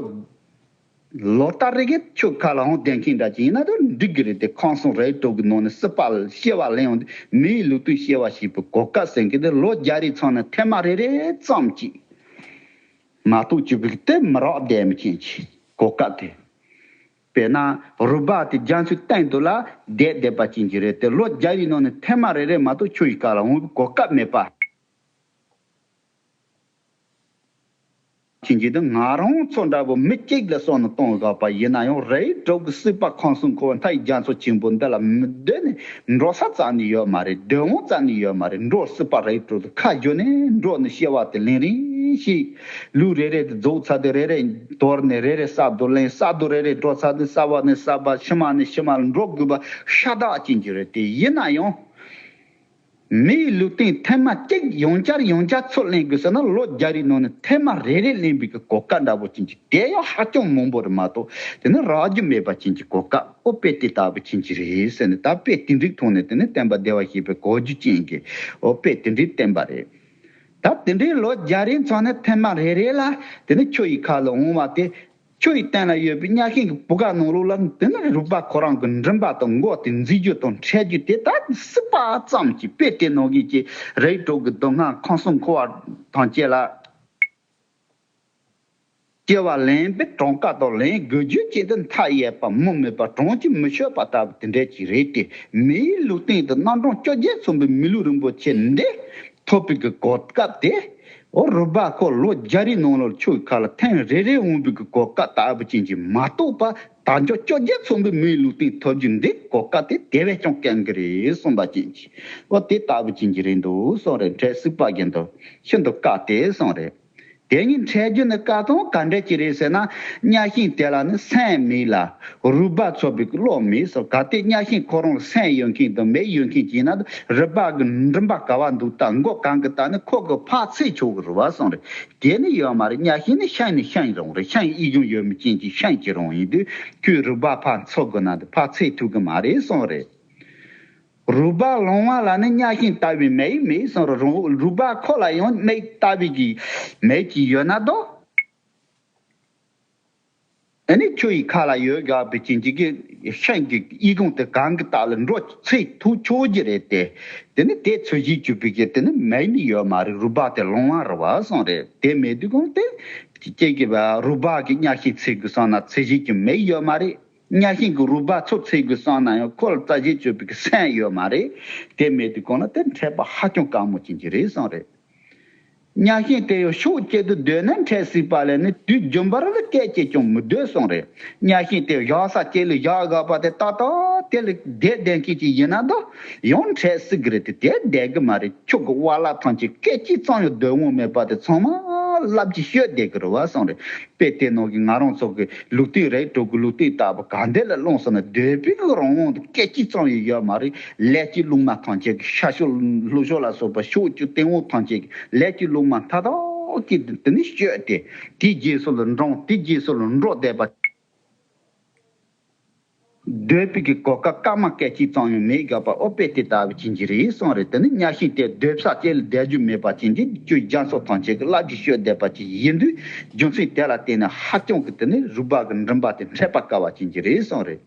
[SPEAKER 1] ལོ་ལྟར་རེ་གི་ཁྱོད་ག་ལའང་གདན་ཁེངས་འདྲ་ཅི་ཡིན་ན་དུ་འགྲིག་གི་རེད་དེ་ཁང་གསུམ་རེའི་གྲོགས་ཀྱི་ནང་ནས་སྲིད་པ་ཤེས་བ་ལེན་འོང་དུས་མིའི་ལུགས་ཏུ་ཤེས་བ་ཞིག་པའི་གོ་སྐབས་ཟེར་མཁན་དེ་ལོ་བརྒྱ་རེའི་ཚང་ནས་ཐེངས་མ་རེ་རེ་ཙམ་གྱིས་མ་གཏོགས་བཅུ་གིས་དེ་མི་རག་བསྡད་མི་མཁན་གྱི་གོ་སྐབས་དེ་དཔེར་ན་རུ་སྦག་དེ་རྒྱ་མཚོའི་སྟེང་དུ་ལ་བསྡད་བསྡད་པ་ཅན་གྱི་རེད་དེ་ལོ་བརྒྱ་ཡི་ནང་ནས་ཐེངས་མ་རེ་རེ་མ་གཏོགས་ཁྱོད་ཀྱི་ག་ལའང་གོ་སྐབས་མེད་པ། ཁྱེད་ཀྱིས་ང་རང་ཚོ་འདྲ་བོ་མི་གཅིག་ལ་སོགས་ནས་གཏོང་དགོས་པ་ཡིན་ན་ཡང་རེད་འགྲོ་གི་སྲིད་པ་གང་སུ་འཁོར་བ་མཐའ་ཡི་རྒྱ་མཚོ་ཆེན་པོ་འདི་ལ་མི་སྡོད་ནས་འགྲོ་ས་ཙམ་ནས་ཡོད་མ་རེད་སྡོད་དབང་ཙམ་ནས་ཡོད་མ་རེད་འགྲོ་སྲིད་པ་རེད་དྲུག་ཏུ་ཁ་བསྒྱུར་ནས་འགྲོ་ནི་ཤེས་བ་དེ་ལན་རིང་ཞིག་ལུས་རེ་རེ་དེ་རྫོགས་ཚར་དུས་རེ་རེ་དོར་ནས་རེ་རེ་ས་རྡོ་ལེན་ས་རྡོ་རེ་རེ་འགྲོ་ཚར་དུས་ས་བ་ནས་ས་བ་ཕྱི་མ་ནས་ཕྱི་མ་ལ་འགྲོ་དགོས་པ་ཤ་སྟག་ཅིག་འགྱུར་རེད་དེ་ཡིན་ན་ཡང། མི་ཡི་ལུས་སྟེང་ཐལ་མ་གཅིག་ཡོང་བསྐྱར་ཡོང་བསྐྱར་ཚུར་གླན་དགོས་ཟེར་ན་ལོ་བརྒྱ་རེའི་ནང་ནས་ཐལ་མ་རེ་རེ་གླན་དགོས་ཀྱི་གོ་སྐབས་འདྲ་བོ་ཅན་གྱི་དལ་ཡོ་ཧ་ཅང་མང་པོ་རེ་མ་གཏོགས་དེ་ནི་རག་རྒྱུ་མེད་པ་ཅན་གྱི་གོ་སྐབས་ཨོ་དཔེ་དེ་ལྟ་བུ་ཅན་གྱི་རེད་ཟེར་ནས་ད་དཔེ་དེ་འགྲིག་ཐོག་ནས་དེ་ནི་བསྟན་པ་བདེ་བ་ཞེས་པའི་གོ་རྒྱུ་ཅན་གྱི་ཨོ་དཔེ་དེ་འདྲས་བསྟན་པ་རེད། ད་དེ་འདྲས་ལོ་བརྒྱ་རེའི་མཚང་ནས་ཐལ་མ་རེ་རེ་ལ་དེ་ནི་ཁྱོད་ཡི་ཁ་ལ་འོང་བ་དེ་ཁྱོད་ཀྱི་སྟེང་ན་ཡོད་པའི་གཉའ་ཤིང་གི་བུ་ག་ནང་ལུག་ལ་འདི་ནི་རུས་པ་ཁོ་རང་གི་མགྲིན་པ་དང་མགོ་དེ་འཛིན་རྒྱུ་དང་འཕྲད་རྒྱུ་དེ་དག་གི་སྲིད་པ་ཙམ་གྱིས་དཔེ་དེ་ནང་གི་ཀྱི་རེའི་གྲོགས་ཀྱི་སྡུག་བསྔལ་ཁང་སྲུང་འཁོར་བ་དང་བཅས་ལ་སྐྱེ་བ་ལེན་པའི་གྲངས་ཀ་དང་ལེན་དགོས་རྒྱུ་བཅས་འདི་མཐའ་ཡས་པ་མུ་མེད་པ་གྲངས་ཀྱིས་མི་ཆོད་པ་ལྟ་བུ་དེ་འདྲས་ཀྱིས་རེད་དེ་མིའི་ལུས་སྟེང་དུ་སྣ་གྲངས་བཅོ་བརྒྱད་མཚོན་པའི་མི་ལུས་རིན་པོ་ཆེ་འདི་ཐོ་པིག་གི་གོ་སྐབས་དེ་ཨོ་རོད་པ་ཁོ་ལོ་བརྒྱ་རེའི་ནང་ལོར་ཆོས་ཁག་ལ་ཐེངས་རེ་རེའི་དབང་པོའི་གོ་སྐབས་ལྟ་བུ་ཅན་གྱི་མ་གཏོགས་པ་ད་འཇོག་བཅོ་བརྒྱད་ཚོགས་འདུའི་མིའི་ལུས་སྟེང་ཐོབ་རྒྱུ་འདི་གོ་སྐབས་དེ་དེ་བས་ཀྱང་གལ་འགི་རེད་གསུངས་པ་ཅན་གྱིས་ཨོ་དེ་ལྟ་བུ་ཅན་གྱི་རེད་འདུག་གསུངས་རེད་འཕྲལ་སུད་པ་རྒན་དུ་ཤིན་ཏུ་དཀའ་སྟེ་གསུངས་རེད། དེ་གཉིས་འཕྲད་རྒྱུ་ནི་དཀའ་སྟངས་ག་འདྲ་ཅིག་རེད་ཟེར་ན་གཉའ་ཤིང་དེ་ལ་ནི་སེམས་མེད་ལ། རུས་སྦལ་ཚོ་པའི་བློ་མེད་སོགས་ག་ལྟེ་གཉའ་ཤིང་ཁོ་རང་ལ་སེམས་ཡོད་མཁན་དང་མེད་ཡོད་མཁན་གྱི་ནང་དུ་རུས་སྦལ་གྱི་མགྲིན་པ་ག་བ་འདུག་སྟངས་མགོ་གང་གི་སྟངས་ནི་ཁོ་གི་ཕག་ཚིལ་ཆུ་བོ་གི་རུ་བ་སོང་རེད་དེ་ནི་ཡོད་མ་རེད་གཉའ་ཤིང་ནི་ཤིང་ནི་ཤིང་རང་རེད་ཤིང་དབྱིག་གཞུང་ཡོད་མི་ཅན་གྱི་ཤིང་གྱི་རང་ཡིན་དུས་ཁྱོའི་རུས་སྦལ་ཕག་མཚོ་གི་ནང་དུ་ཕག་ཚིལ་ཐུག་གི་མ་རེད་སོང་རེད། རུས་སྦལ་ལོང་བ་ལ་ནི་གཉའ་ཤིང་ལྟ་བུའི་མེ་ཡིས་མེའི་སོར་རུ་རུས་སྦལ་ཁོག་ལ་ཡང་མིག་ལྟ་བུའི་གི་མེ་གཅིག་ཡོད་ན་དོ། འདི་ནི་ཁྱོད་ཡི་ཁ་ལ་ཡོད་དགའ་བའི་བྱིན་གྱིས་གི་ཤིང་གི་དབྱིག་ཀོང་དེ་གང་གི་དག་ལ་འགྲོ་ཚིག་ཐུག་ཆོག་གི་རེད་དེ། དེ་ནི་དེ་ཚོས་གཞི་བཅུ་པའི་གི་དེ་ནི་མེ་ནི་ཡོད་མ་རེད་རུས་སྦལ་དེ་ལོང་བ་རུ་བ་སོང་རེད་དེ་མེ་དུས་གོང་དེ། ཀྱེ་ཀྱེ་རུས་སྦལ་གི་གཉའ་ཤིང་ཚིག་གི་སོང་ན་ཚིག་གཞི་གི་མེ་ཡོད་མ་རེད། གཉའ་ཤིང་གི་རུས་པ་ཚུར་འཚེད་དགོས་བསམ་ན་ཡང་ཁོ་ལ་རྩ་ཆེན་སྤྱོད་པའི་གི་སེམས་ཡོད་མ་རེད། དེ་མེད་དུས་གང་ན་དེར་འཕྲད་པ་ཧ་ཅང་དཀའ་མོ་ཅན་གྱི་རེད་བསམ་རེད། གཉའ་ཤིང་དེ་ཡང་ཤུགས་བསྐྱེད་དུ་སྡོད་ན་འཕྲད་སྲིད་པ་ལས་ནི་དུས་རྒྱུན་པར་ལ་སྐད་བསྐྱེད་ཀྱང་མི་སྡོད་བསམ་རེད། གཉའ་ཤིང་དེ་བཞག་ས་ཁྱེད་ལས་བཞག་དགའ་བ་དེ་ཏག་ཏག་དེ་ལས་བསྡད་བསྡད་མཁན་ཞིག་ཡིན་ན་ད་ཡང་འཕྲད་སྲིད་གི་རེད་དེ་དེར་བསྡད་གི་མ་རེད་ཁྱོད་ཀྱི་བ་ལག་ཐང་ཆེན་སྐད་ཅིག་ཙམ་ཡང་སྡོད་དབང་མེད་པ་དེ་ཚང་མ་རླབས་ཀྱིས་བཤོས་བསྡད་གི་རེད་བསམ་རེད། དཔེ་ལྟས་ནོར་གྱི་ང་རང་ཚོ་གི་ལུག་རྟུལ་རེད་དྲུག་གི་ལུག་རྟུལ་ལྟ་བུ་གང་འདི་ལ་བླངས་སོང་ན་སྡོད་པའི་གི་རང་དབང་དུ་སྐད་ཅིག་ཙམ་ཡང་ཡོད་མ་རེད་ལས་ཀྱི་ལུག་མ་ཐམས་ཅད་གི་ཤ་ཤོ་ལུག་ཤོ་ལ་སོགས་པ་ཕྱོགས་བཅུ་སྟེང་འོག་ཐམས་ཅད་གི་ལས་ཀྱི་ལུག་མ་མཐའ་དག་གི་དེ་ནི་སྤྱོད་དེ་དེའི་རྗེས་སུ་ལ་འབྲང་དེའི་རྗེས་སུ་ལ་འགྲོ་བསྡད་པ། སྡོད་དཔོན་གྱི་གོ་སྐབས་སྐར་མ་སྐད་ཅིག་ཙམ་ཡང་མེད་དགག་པ་ཨོ་དཔེ་དེ་ལྟ་བུ་བྱིན་གྱིས་རེ་ཟུང་རེད་དེ་ནི་གཉའ་ཤིང་དེ་སྡོད་ཕྱག་བཅས་ལ་བསྡད་རྒྱུ་མེད་པ་བྱིན་གྱིས་ཀྱིས་རྒྱ་མཚོ་ཐང་ཆེན་གྱི་རླབས་ཀྱིས་བཤོས་བསྡད་པ་ཅིག་ཡིན་དུས་རྒྱུ་མཚན་དེ་ལ་བརྟེན་ནས་ཧ་ཅང་གི་དེ་ནི་རུས་སྦལ་གྱི་མགྲིན་པ་དེ་འཕྲད་པ་དཀའ་བ་བྱིན་གྱིས་རེ་ཟུང་རེད།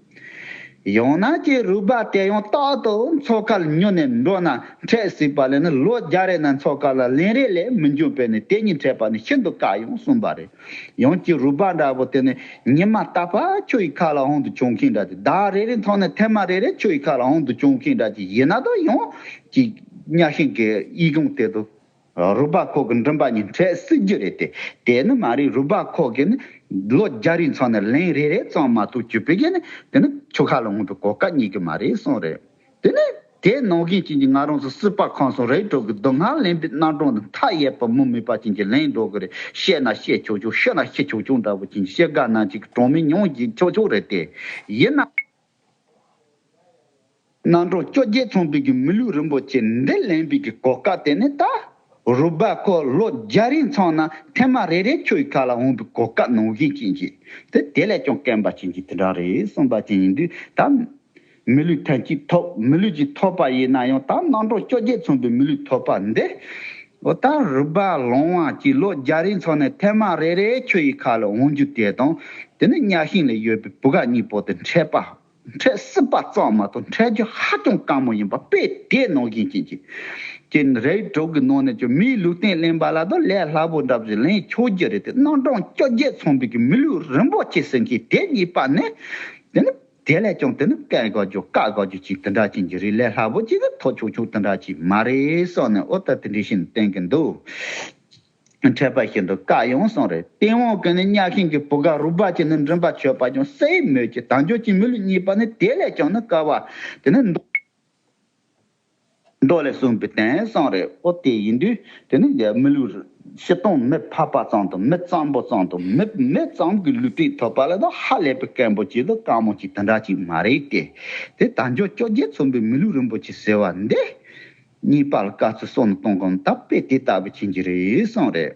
[SPEAKER 1] ཡང་ན་ཀྱེ་རུས་སྦལ་དེ་ཡང་རྟག་ཏུ་མཚོ་དཀར་ལ་ཉུལ་ནས་འགྲོ་ན་འཕྲད་སྲིད་པ་ལས་ནི་ལོ་བརྒྱ་རེ་ན་མཚོ་དཀར་ལ་ལན་རེ་ལས་མི་འབྱུང་བས་ནི་དེ་གཉིས་འཕྲད་པ་ནི་ཤིན་ཏུ་དཀའ་ཡང་གསུངས་པ་རེད། ཡང་ཀྱི་རུས་སྦལ་འདྲ་བོ་དེ་ནི་ཉི་མ་ལྟ་བར་ཁྱོད་ཡི་ཁ་ལ་ཧོན་དུ་བྱུང་མཁན་འདྲ་སྟེ་ཟླ་བ་རེ་རེ་མཐོང་ནས་ཐལ་མ་རེ་རེ་ཁྱོད་ཡི་ཁ་ལ་ཧོན་དུ་བྱུང་མཁན་འདྲ་ཅི་ཡི་ན་དོ་ཡང་ཀྱི་གཉའ་ཤིང་གི་དབྱིག་རུང་དེ་དུ་རུས་སྦལ་ཁོག་གི་མགྲིན་པ་གཉིས་འཕྲད་སྲིད་རྒྱུ་རེད་དེ་དེ་ནི་མ་རིག་རུས་སྦལ་ཁོག་གི་ནི་ལོ་བརྒྱ་རིང་ཚང་ནས་ལན་རེ་རེ་ཙམ་མ་ཐུག་གྱུར་པའི་རྒྱུ་ནི་དེ་ནི་ཁྱོད་ཁ་ལ་ཧོན་པའི་གོ་སྐབས་རྙེད་གི་མ་རེད་གསུངས་རེད། དེ་ནས་དེས་ནོར་རྒན་ཅན་གྱིས་ང་རང་ཚོ་སྲིད་པ་ཁང་སོང་རེད་འགྲོ་གི་འདུག་ང་ལན་པའི་རྣར་གྲོངས་དང་མཐའ་ཡས་པ་མུ་མེད་པ་ཅན་གྱིས་ལན་འགྲོ་གི་རེད་བཤད་ན་བཤད་ཆོག་ཆོག་ཤི་ན་ཤི་ཆོག་ཆོག་འདྲ་བོ་ཅན་གྱི་བཤད་དགའ་ནང་བྱེད་ཀྱི་གྲོང་མི་ཉུང་བརྒྱས་ཆོག་ཆོག་རེད་དེ། ཡིན་ནའང། རྣར་གྲོངས་བཅོ་བརྒྱད་ཚོང་དཔོན་གྱི་མི་ལུས་རིན་པོ་ཆེ་འདི་ལན་པའི་གི་གོ་སྐབས་དེ་ནས་ད་རུབ་པ་ཁོ་ལོ་བརྒྱ་རིང་ཚང་ན་ཐེངས་མ་རེ་རེ་ཁྱོད་ཀྱི་ཁ་ལ་འོང་པའི་གོ་སྐབས་ནོར་རྒན་ཅན་གྱིས་དེ་དེ་ལས་ཀྱང་སྐེམ་པ་ཅན་གྱི་དེ་འདྲ་རེད་གསུངས་པ་ཅན་ཡིན་དུས་ད། མི་ལུས་ཐོན་སྐྱེད་ཐོབ་མི་ལུས་ཀྱི་ཐོབ་པ་ཡིན་ན་ཡང་དག་སྣང་གྲོང་བཅོ་བརྒྱད་མཚུངས་པའི་མི་ལུས་ཐོབ་པ་འདི། འོ་ད་རུ་པ་ལོང་བ་གྱིས་ལོ་བརྒྱ་རིང་འཚོ་ནས་ཐེངས་མ་རེ་རེའི་ཁྱོད་ཡི་ཁ་ལ་འོང་རྒྱུ་དེ་དང་དེ་ནི་གཉའ་ཤིང་ལས་གཡོས་པའི་བུ་ག་གཉིས་པོ་དེ་འཕྲད་པ་འཕྲད་སྲིད་པ་ཙམ་མ་གཏོགས་འཕྲད་རྒྱུ་ཧ་ཅང་དཀའ་མོ་ཡིན་པ་དཔེ་དེས་ནོར་བཞིན་བྱེད་ཀྱི། ཀྱེ་རའི་གྲོགས་ཀྱི་ནང་ནས་ཀྱང་མིའི་ལུས་སྟེང་གླེན་པ་ལ་དང་ལས་སླ་པོ་འདྲ་བ་ཞིག་ལེན་ཆོག་རྒྱུ་རེད་དེ་སྣང་གྲོང་བཅོ་བརྒྱད་མཚུངས་པའི་གྱི་མི་ལུས་རིན་པོ་ཆེ་ཟེར་མཁན་དེ་གཉིས་པ་ནི། དེ་ནི། དེ་ལས་ཀྱང་དེ་ནི་བཀས་བཀག་རྒྱུ་བཀག་བཀག་རྒྱུ་གཅིག་དེ་འདྲ་ཅན་གྱི་རིགས་ལས་སླ་པོ་གཅིག་གི་ཐོག་ཆོག་ཆོག་དེ་འདྲ་ཅིག་མ་རེད་བསམ་ནས་ཨོ་ད་དེ་འདྲས་ཤིག་ནི་བསྟན་གྱི་འདུག་འཕྲད་པ་ཞིག་འདུག་བཀག་ཡོང་སོང་རེད་སྟེས་དབང་གིས་ནི་གཉའ་ཤིང་གི་བུ་ག་རུ་སྦ་ཅིག་ནི་མགྲིན་པ་ཆོད་པ་ཀྱང་སའི་མོད་ཀྱི་དལ་འབྱོར་གྱི་མི་ལུས་གཉིས་པ་ནི་དེ་ལས་ཀྱང་ནི་དཀའ་བ་དེ་ནི། མདོ་ལས་གསུངས་པའི་དེང་སང་རེ་བོ་དེ་ཡིན་དུས་དེ་ནི་རྒྱ་མི་ལུགས་རེད། ཕྱི་སྟོང་མི་ཕ་པ་ཙམ་དང་མི་གཙང་པོ་ཙམ་དང་མི་མེད་ཙམ་གྱི་ལུས་དྲིས་ཐོབ་པ་ལས་ད་ཧ་ལས་པའི་སྐད་འབོད་ཅིག་དང་བཀའ་མོལ་ཅིག་དེ་འདྲ་ཅིག་མ་རེད་དེ། དེ་དར་འཇོ་བཅོ་བརྒྱད་མཚོན་པའི་མི་ལུས་རིན་པོ་ཆེ་ཟེར་བ་འདི། གཉིས་པ་ལ་བཀའ་ཚུལ་གསོག་ནས་གཏོང་གོམ་དམ་དཔེ་དེ་ལྟ་བུ་བྱིན་གྱི་རེད་བསམ་རེད།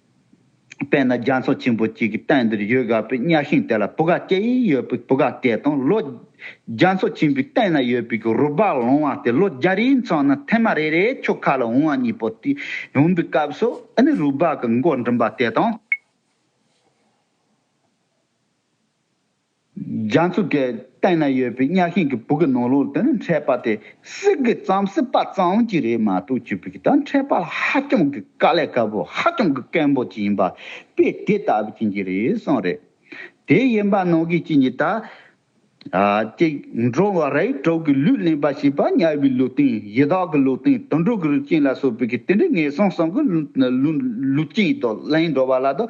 [SPEAKER 1] དཔེར་ན་རྒྱ་མཚོ་ཆེན་པོ་གཅིག་གི་སྟེང་འདིར་ཡོད་དགའ་བའི་གཉའ་ཤིང་དེ་ལ་བུ་ག་སྐྱེ་ཡི་ཡོད་པའི་བུ་ག་སྐྱེས་དང་ལོ། རྒྱ་མཚོ་ཆེན་པོའི་སྟེང་ན་ཡོད་པའི་རུ་སྦལ་ལོང་བ་དེ་ལོ་བརྒྱ་རེའི་མཚམས་ན་ཐེངས་མ་རེ་རེའི་ཁྱོ་ག་ལ་འོང་བ་གཉིས་པོ་དེ་འོང་པའི་སྐབས་སུ་ཨ་ནི་རུ་སྦལ་གྱི་མགོ་འགྲིམ་པ་དེ་དང། རྒྱ་མཚོ་གི་སྟེང་ན་ཡོད་པའི་གཉའ་ཤིང་གི་བུ་གི་ནོར་ལོག་དེ་ནི་འཕྲད་པ་དེ་གསེར་གྱི་རྩམ་སྲིད་པ་ཙམ་གྱིས་རེད་མ་གཏོགས་ཅི་ཕིག་དང་འཕྲད་པ་ལ་ཧ་ཅང་གི་དཀའ་ལས་དཀའ་པོ་ཧ་ཅང་གི་སྐལ་འབོ་ཅིག་ཡིན་པ་དཔེ་དེ་ལྟ་བུ་བྱིན་གྱི་རེད་གསུངས་རེད། དེའི་ཡན་པ་ནོར་གྱི་གཅིག་ཉིད་དང། གཅིག་འགྲོ་བ་རའི་གྲོགས་ཀྱི་ལུས་གླེན་པ་ཞེས་པ་དམྱལ་བའི་ལུས་སྟེང་ཡི་དྭགས་ཀྱི་ལུས་སྟེང་དུད་འགྲོ་གི་རུས་ཅན་ལ་སོགས་པའི་གི་དེ་འདྲའི་ངན་སོང་སོང་གི་ལུས་ལུས་ཅན་དུ་གླེན་འགྲོ་བ་ལ་དུ་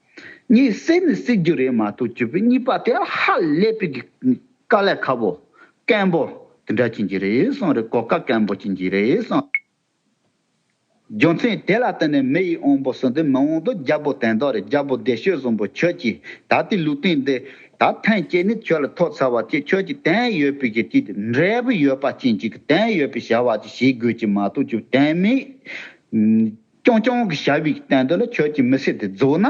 [SPEAKER 1] ངས་བསད་ནི་བསད་རྒྱུ་རེད་མ་གཏོགས་རྒྱུ་སྤུན་གཉིས་པ་དེ་ཧ་ལས་པའི་དཀའ་ལས་ཁ་བོ། སྐམ་པོ། དེ་འདྲ་བྱིན་གྱི་རེད་སོང་རེད་གོ་ཁ་སྐམ་པོ་བྱིན་གྱི་རེད་སོང། རྒྱུ་མཚན་དེ་ལ་བརྟེན་ནས་མི་ཡིས་འོང་པོ་ཟེར་དུས་མི་འོང་དུས་རྒྱལ་པོ་དེ་འདྲ་རེད་རྒྱལ་པོ་བདེ་ཤོས་བཟང་པོ་ཁྱོད་ཀྱིས་ད་ལྟའི་ལུས་སྟེང་འདི་ད་ཐེངས་སྐྱེས་ནས་ཁྱོད་ལ་ཐོག་ཚར་བ་ཅིག་ཁྱོད་ཀྱིས་དེང་ཡོད་པའི་གི་ཅིག་འབྲས་བུ་ཡོད་པ་ཅན་ཅིག་གི་དེང་ཡོད་པའི་བྱ་བ་ཅིག་བྱེད་དགོས་ཀྱི་མ་གཏོགས་རྒྱུ་དེང་མི། ཀྱོང་ཀྱོང་གི་ཞབས་ཡིག་བསྟན་དོན་ལ་ཁྱོད་ཀྱིས་མི་སེར་དེ་རྫོགས་ན་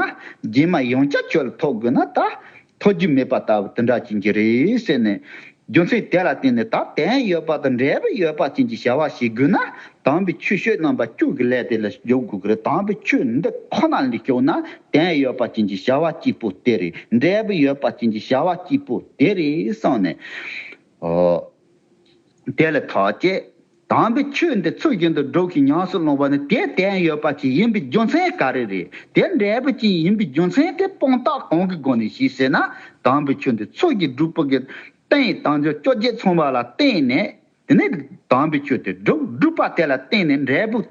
[SPEAKER 1] རྗེས་མ་ཡང་བསྐྱར་ཁྱོད་ལ་ཐོགས་དགོས་ན་ད་ཐོགས་རྒྱུ་མེད་པ་ལྟ་བུ་དེ་འདྲ་བྱིན་གྱི་རེད་ཟེར་ནས། རྒྱུ་མཚན་དེ་ལ་བརྟེན་ནས་ད་དན་ཡོད་པ་དང་འབྲས་བུ་ཡོད་པ་ཅན་གྱི་བྱ་བ་བྱེད་དགོས་ན་དམ་པའི་ཆོས་བཤོད་རྣམ་པ་བཅུ་གི་ཀླད་དེ་ལ་འཇོག་དགོས་ཀྱི་རེད་དམ་པའི་ཆོས་འདི་ཁོ་ན་ལས་ཤོར་ན་དན་ཡོད་པ་ཅན་གྱི་བྱ་བ་སྐྱིད་པོ་དེ་རེད་འབྲས་བུ་ཡོད་པ་ཅན་གྱི་བྱ་བ་སྐྱིད་པོ་དེ་རེད་གསུངས་ནས། དེ་ལ་ཐག་བཅད། དམ་པའི་ཆོས་འདི་ཚུལ་བཞིན་དུ་སྒྲོག་ཅིང་ཉམས་སུ་སློང་བ་ནི་དེའི་བསྟན་ཡོད་པ་ཅིག་ཡིན་པའི་རྒྱུ་མཚན་ག་རེ་རེད། དེ་འབྲས་བུ་ཅི་ཡིན་པའི་རྒྱུ་མཚན་དེ་སྤོང་རྟགས་གང་གི་སྒོ་ནས་ཞེས་ཟེར་ན། དམ་པའི་ཆོས་འདི་ཚུལ་གྱིས་སྒྲུབ་པའི། རྟེན་ཡི་དམ་ཆོས་བཅོ་བརྒྱད་མཚུངས་པ་ལ་བརྟེན་ནས། དེ་ནས་དམ་པའི་ཆོས་དེ་སྒྲུབ་སྒྲུབ་པ་དེ་ལ་བརྟེན་ནས་འབྲས་བུ།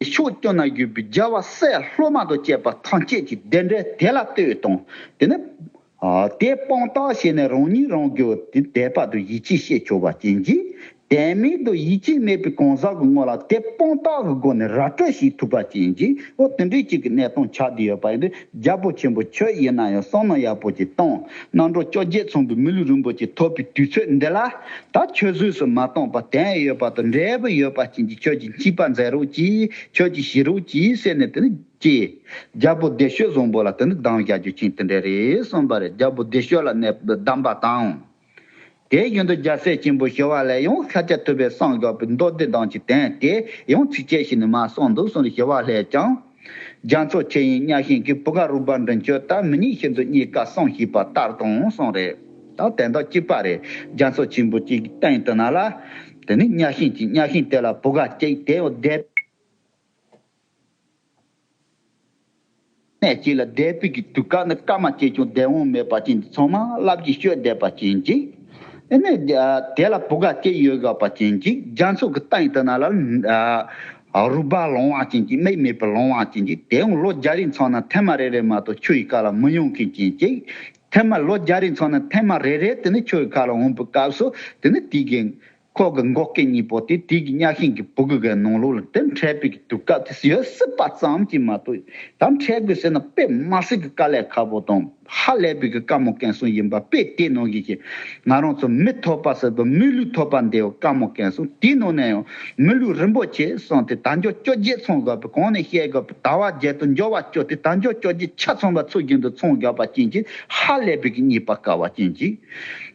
[SPEAKER 1] ཀྱི་ཕྱོགས་སྐྱོང་ན་གྱུར་པའི་རྒྱལ་བ་སྲས་སློབ་མ་དང་བཅས་པ་ཐམས་ཅད་ཀྱི་བདེན་བྲལ་དེ་ལ་ལྟོས་དང། དེ་ནི། དེ་སྤང་རྟགས་བྱས་ནས་རང་ཉིད་རང་གི་དེ་དད་པ་དང་ཡིད་ཆེས་ཤེས་འཁྱོལ་བ་ཅན་གྱིས། དད་མེད་དང་ཡིད་ཆེས་མེད་པའི་གང་ཟག་གི་དངོས་ལ་དེ་སྤང་རྟགས་ཀྱི་སྒོ་ནས་ར་སྤྲོད་བྱེད་ཐུབ་པ་ཅན་གྱིས་འོ་དེ་འདྲའི་གཅིག་གི་གནས་སྟངས་ཆགས་བསྡད་ཡོད་པ་ཡིན་དུས། རྒྱལ་པོ་ཆེན་པོ་ཁྱོད་ཡིན་ན་ཡང་སྲང་ནོར་ཡག་པོ་ཅིག་བཏང་གནང་འགྲོ་བཅོ་བརྒྱད་ཚོང་གི་མི་ལུས་རིན་པོ་ཆེ་ཐོབ་པའི་དུས་ཚོད་འདི་ལ་ད་ཁྱོད་བཟོས་སུ་མ་བཏང་པར་དད་ཡོད་པ་དང་འབྲས་བུ་ཡོད་པ་བྱིན་གྱིས་ཁྱོད་ཀྱི་མཆིས་པ་མཛད་རོགས་གྱིས་ཁྱོད་ཀྱི་ཞི་རོགས་གྱིས་ཟེར་ནས་དེ་ནི་ཀྱེ། རྒྱལ་པོ་བདེ་ཤོད་བཟང་པོ་ལ་དེ་ནི་སྡང་བྱ་རྒྱུ་ཆེན་དེ་འདྲ་རེད་གསུངས་པ་རེད་རྒྱལ་པོ་བདེ་ཤོད་ལ་གནས་སྡམ་པ་དང། དེའི་རྒྱུན་དུ་རྒྱལ་སྲས་ཆེན་པོ་ཞི་བ་ལས་ཡང་ཤཱཀྱ་ཐུབ་པའི་གསང་སྒྲོགས་པའི་མདོ་སྡེ་གདངས་ཀྱི་གདན་དེ་ཡང་ཚིགས་བཅད་ཞིག་ནི་མ་གསུངས་འདུག་གསུངས་ཞི་བ་ལྷས་ཀྱང། རྒྱ་མཚོ་ཆེ་ཡིན་གཉའ་ཤིང་གི་བུ་ག་རུ་བར་འབྲིང་ཁྱོད་ལྟ་མི་ཉིད་ཤིན་ཏུ་རྙེད་དཀའ་གསུངས་ཞེས་པ་ལྟར་དང་གསུངས། རེད་དྭ་དེ་འདྲ་གཅིག་པ་རེད་རྒྱ་མཚོ་ཆེན་པོ་གཅིག་གི་སྟེང་དུ་ན་ལ། དེ་ནི་གཉའ་ཤིང་གཅིག་གཉའ་ཤིང་དེ་ལ་བུ་ག་གཅིག་དེ་ཡང་སྡེ། ནས་བྱས་ལ་བཟླས་བརྟུལ་གྱི་དུས་སྐབས་ནི་སྐར་མ་སྐྱེས་ཀྱང་བདེ་འོང་མེད་པ་ཅན་གྱི་ཚོགས་མང་བསླབ་ཀྱིས་སྤྱོད་བདེ་བ་ཅན་ཅིག། ནས། དེ་ལ་བུ་ག་སྐྱེས་ཡོད་དགའ་བ་ཅན་ཅིག་རྒྱ་མཚོ་གི་སྟེང་དུ་ན་ལ། རུས་སྦལ་ལོང་བ་ཅན་ཅིག་སྨྲིག་མེད་པའི་ལོང་བ་ཅན་ཅིག་དེ་ཡང་ལོ་བརྒྱ་རིའི་མཚོ་ན་ཐེམ་མ་རེ་རེ་མ་གཏོགས་ཆུ་ཡི་ཁ་ལ་མི་ཡོང་མཁན་ཅན་ཅིག། ཐེམ་མ་ལོ་བརྒྱ་རིའི་མཚོ་ན་ཐེམ་མ་རེ་རེ་དེ་ནི་ཆུ་ཡི་ཁ་ལ་འོངས་པའི་སྐབས་སུ་དེ་ནི་དུས་དགེ། ཁོག་གི་མགོ་སྐེ་གཉིས་པོ་དེ་དུས་ཀྱི་གཉའ་ཤིང་གི་སྦུ་གུ་གའི་ནང་ལུག་ལ་དེ་འཕྲད་དཔེ་གྱི་དུས་སྐབས་དེ་ཡོད་སྲིད་པ་ཙམ་གྱིས་མ་གཏོགས་ད་འཕྲད་དགོས་ཟེར་ན་དཔེ་དམར་སེར་གྱི་དཀའ་ལས་ཁག་པོ་དང་ཧ་ལས་པའི་གི་དཀའ་མོ་གན་སོང་ཡིན་པ་དཔེ་དེའི་ནང་གི་གི་ང་རང་ཚོ་མི་ཐོག་པ་ཟེར་བའི་མི་ལུས་ཐོག་པ་འདི་ཡང་དཀའ་མོ་གན་སོང་དེའི་ནང་ནས་ཡང་མི་ལུས་རིན་པོ་ཆེ་སོང་དེ་ད་འཇོག་བཅོ་བརྒྱད་ཚོང་དགོས་པའི་གང་ནས་བཤད་དགོས་པའི་དར་བ་བརྒྱད་དུ་འཇོག་བ་བཅོ་དེ་ད་འཇོག་བཅོ་བརྒྱད་ཆ་ཚང་པ་ཚུགས་བཞིན་དུ་ཚོང་དགོས་པ་ཅན་གྱི་ཧ་ལས་པའི་གི་གཉིས་པ་དཀའ་བ་ཅན་གྱི་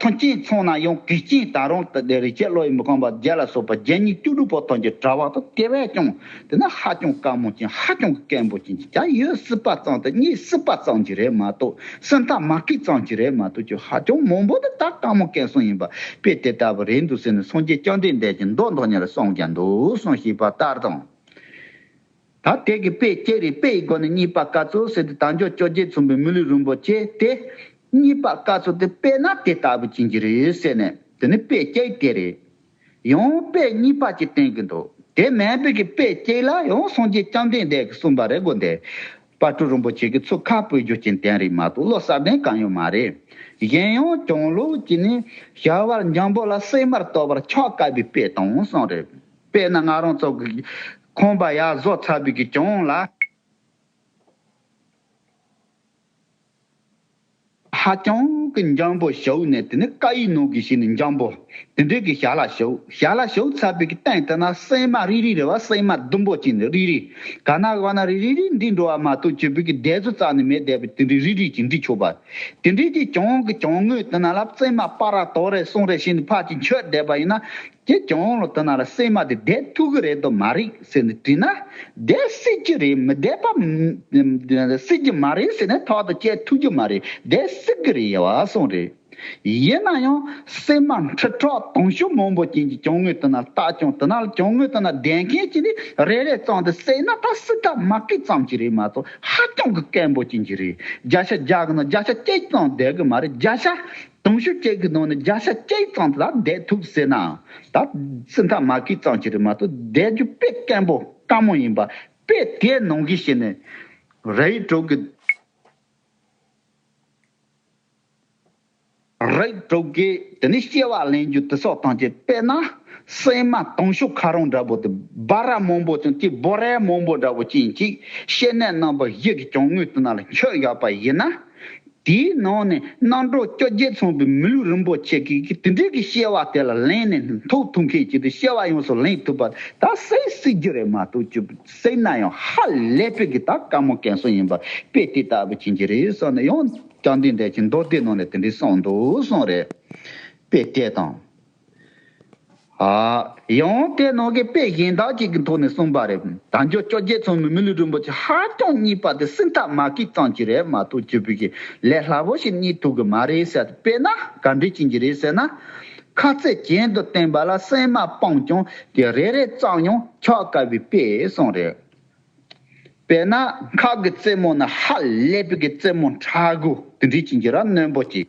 [SPEAKER 1] ཐོན་སྐྱེད་ཚོང་ན་ཡང་གུས་སྐྱེས་ད་རུང་དེ་ལྟའི་རི་སྐྱེས་བློ་ཡིས་མི་ཁོམ་པར་རྒྱལ་ལ་སོགས་པ་བརྒྱད་གཉིས་བཅུ་དྲུག་པོ་ཐོན་རྒྱུ་གྲྭ་བ་དང་དེ་བས་ཀྱང་དེ་ན་ཧ་ཅང་དཀའ་མོ་ཅན་ཧ་ཅང་གི་སྐད་འབོད་ཅན་གྱི་བྱ་ཡོད་སྲིད་པ་ཙམ་དུ་གཉིད་སྲིད་པ་ཙམ་གྱི་རེད་མ་གཏོགས་སེམས་ཐག་མ་སྐེད་ཙམ་གྱི་རེད་མ་གཏོགས་ཀྱི་ཧ་ཅང་མང་པོ་དེ་དག་དཀའ་མོ་སྐད་གསུང་ཡིན་པ་དཔེ་དེ་ལྟ་བུ་རེད་འདུག་ཟེར་ནས་སངས་རྒྱས་བཅོམ་ལྡན་འདས་ཀྱིས་མདོ་མདོ་ཉིད་ལ་གསུངས་ཀྱང་འདུག་གསུངས་ཞེས་པ་ལྟར་དང། ད་ལྟའི་གི་དཔེ་སྐྱེད་རིགས་དཔེ་ཡི་སྒོ་ནས་གཉིས་པ་བཀའ་ཚོལ་ཟེར་ཏེ་དྭངས་སྐྱོ་སྐྱོ་རྗེ་མཚུངས་པའི་མི་ལུས་རུང་བོ་སྐྱེས་ཏེ། གཉིས་པ་བཀའ་ཚོལ་དེ་དཔེ་ན་དེ་ལྟ་བུ་ཅན་གྱི་རིགས་ཡོད་ཟེར་ནས་དེ་ནི་དཔེ་སྐྱེད་དེ་རེད། ཡང་དཔེ་གཉིས་པ་ཅིག་བསྟན་གྱི་འདུག་དེ་མན་དཔེ་གི་དཔེ་སྐྱེད་ལ་ཡང་སངས་རྒྱས་བཅོམ་ལྡན་འདས་ཀྱི་གསུངས་པ་རེ་དགོས་འདེད། དཔའ་སྤྲུལ་རིན་པོ་ཆེ་གི་ཚུལ་ཁ་པོའི་རྒྱུ་རྐྱེན་བསྟན་རིགས་མ་གཏོགས་བློ་གསར་ལྡན་གང་ཡོད་མ་རེད། གཞན་ཡང་གྱང་ལོག་གིས་ནི་ཞལ་དབར་འཇམ་པོ་ལ་སྲིན་མར་གཏོགས་པར་ཕྱག་བཀབ་པའི་དཔེ་དང་གསུངས་རེད། དཔེར་ན་ང་རང་སོགས་ཀྱི་ཁང་པ་ཡག་བཟོ་ཚར་དུས་ཀྱི་གྱང་ལ། ཧ་ཅང་གི་འཇམ་པོ་བྱུགས་ནས་དེ་ནས་ཀ་ཡིག་ནང་གི་ཞིག་ནི་འཇམ་པོ། དེ་འདྲའི་གི་ཞྭ་ལ་བྱུགས། ཞྭ་ལ་བྱུགས་ཚར་དུས་ཀྱི་སྟེང་དུ་ན་སྲན་མ་རི་རི་རེད་བ་སྲན་མ་ལྡུམ་པོ་ཅིག་ནི་རི་རི། ག་ན་ག་བ་ན་རི་རི་རི་འདི་འགྲོ་བ་མ་གཏོགས་སྤྱིར་བོད་ཀྱི་སྡེ་བཟོ་རྩ་ནས་མེད་བསྡད་པས་དེ་འདྲའི་རི་རི་ཅིག་འབྲི་ཆོག་པ། དེ་འདྲའི་གི་གྱང་གི་གྱང་ངོས་དེ་ན་ལབ་སྲན་མ་སྤ་ར་དོག་རེ་སོང་རེ་བྱས་ནས་ཕར་ཅིག་འཁྱོལ་བསྡད་པ་ཡིན་ན། ཁྱེད་ཀྱི་ཨོང་ལོ་དུ་ནང་ལ་སྲན་མ་དེ་བསྡད་ཐུག་གི་རེད་དོ་མ་རེད་ཟེར་ནས་དྲིས་ན། བསྡད་སྲིད་ཀྱི་རེད་མི་བསྡད་པ། སྲིད་ཀྱི་མ་རེད་ཟེར་ནས་ཐོག་ཏུ་བསྐྱལ་ཐུག་གི་མ་རེད་བསྡད་སྲིད་གི་རེད་ཡ་སོང་རེད། ཡིན་ན་ཡང་སྲན་མ་འཁྲི་གྲོགས་དུང་ཞོ་མང་པོ་ཅན་གྱི་གྱང་ངོས་དུ་ནང་ལྟ་གྱང་དུ་ནང་གྱང་ངོས་དུ་ནང་བསྡད་མཁན་གྱི་ནི་རེ་རེ་གཙང་དུ་བསྲེགས་ན་ད་སྲིད་ཀ་མ་ཀི་ཙམ་གྱི་རེད་མ་གཏོགས་ཧ་ཅང་གི་སྐལ་འབོ་ཅན་གྱི་རེད་བརྒྱ་ཆ་བརྒྱ་གི་ནང་བརྒྱ་ཆ་གཅིག་ཙམ་བསྡད་གི་མ་རེད་བརྒྱ་ཆ་དུང་ཕྱུར་བཅས་ཀྱི་ནང་ནས་བརྒྱ་ཆ་བཅུ་ཡི་ཙང་ལ་བསྡད་ཐུབ་ཟེར་ནའང་ད་སྲིད་མཐའ་མ་གི་ཙང་ཅི་རིགས་མ་གཏོགས་བསྡད་རྒྱུ་དཔེ་བརྟན་པོ་དཀའ་མོ་ཡིན་པ་དཔེ་དེའི་ནང་གི་ཞིག་ནས་ར་ཡིག་དྲུག་གི་ར་ཡིག་དྲུག་གི་དེ་ནས་སྐྱེ་བ་ལེན་རྒྱུ་དེ་སོགས་དང་བཅས་དཔེར་ན་སྲན་མ་དུང་ཕྱུར་ཁ་རོང་འདྲ་པོ་དེ་སྦ་ར་མང་པོ་ཅིང་དེའི་སྦོ་རའི་མང་པོ་འདྲ་པོ་ཅིང་ཅིག་ཤེས་ནས་རྣམ་པ་བཞི་གི་གྱང་ངོས་དེ་ན་ལ་འཁྱོལ་ཡོད་པ་ཡིན་ན། དེའི་ནང་ནས་གནང་གྲོགས་སྐྱོ་རྒྱལ་ཚང་པའི་མི་ལུས་རིན་པོ་ཆེ་གི་གི་དེ་འདྲའི་གི་ཤེས་བ་དེ་ལ་ལན་ནས་ནི་ཐུགས་ཐུགས་མཁན་གྱི་དུ་ཤེས་བ་ཡོངས་སུ་ལེན་ཐུབ་པ་ད་སེ་སི་རྒྱུ་རེད་མ་གཏོགས་ཅུ་པི་སེ་ན་ཡང་ཧ་ལས་པའི་གི་ད་དཀའ་མོ་གན་སོང་ཡིན་པ་དཔེ་དེ་ལྟ་བུ་བྱིན་གྱི་རེད་བསམ་ནས་ཡང་བསྐྱར་འདི་འདྲས་ཀྱི་མདོ་སྡེ་ནང་ནས་དེ་འདྲའི་གསང་འདུག་གསང་རེད་དཔེ་དེ་དང། ཡང་ཏེ་ནང་གི་དཔེ་གཞན་དག་ཅིག་གི་ཐོག་ནས་གསུངས་པ་རེད། དང་ཅོག་ཅོག་རྒྱལ་ཚང་མི་མི་ལུས་རིན་པོ་ཆེ་ཧ་ཅང་གཉིས་པ་དེ་སྲིད་མཐའ་མ་ཀི་ཙང་གི་རེད་མ་གཏོགས་སྤྱི་ཕུད་ཀྱི་ལས་སླ་བོ་ཞིག་གཉིས་ཐུག་གི་མ་རེད་ཟེར་དཔེར་ན་ག་འདྲི་བྱིན་གྱི་རེད་ཟེར་ན། ཁ་རྩེད་གྱེན་དུ་བསྟན་པ་ལ་སེམས་མ་སྤངས་ཀྱང་དེ་རེ་རེ་ཙམ་ཡང་འཁྱག་དཀའ་བའི་དཔེ་གསུངས་རེད། དཔེར་ན་ཁག་གི་རྩེད་མོ་ནི་ཧ་ལས་པའི་རྩེད་མོ་འཕྲ་གུ་དེ་འདྲི་བྱིན་གྱི་ར་རྣོན་པོ་ཅིག།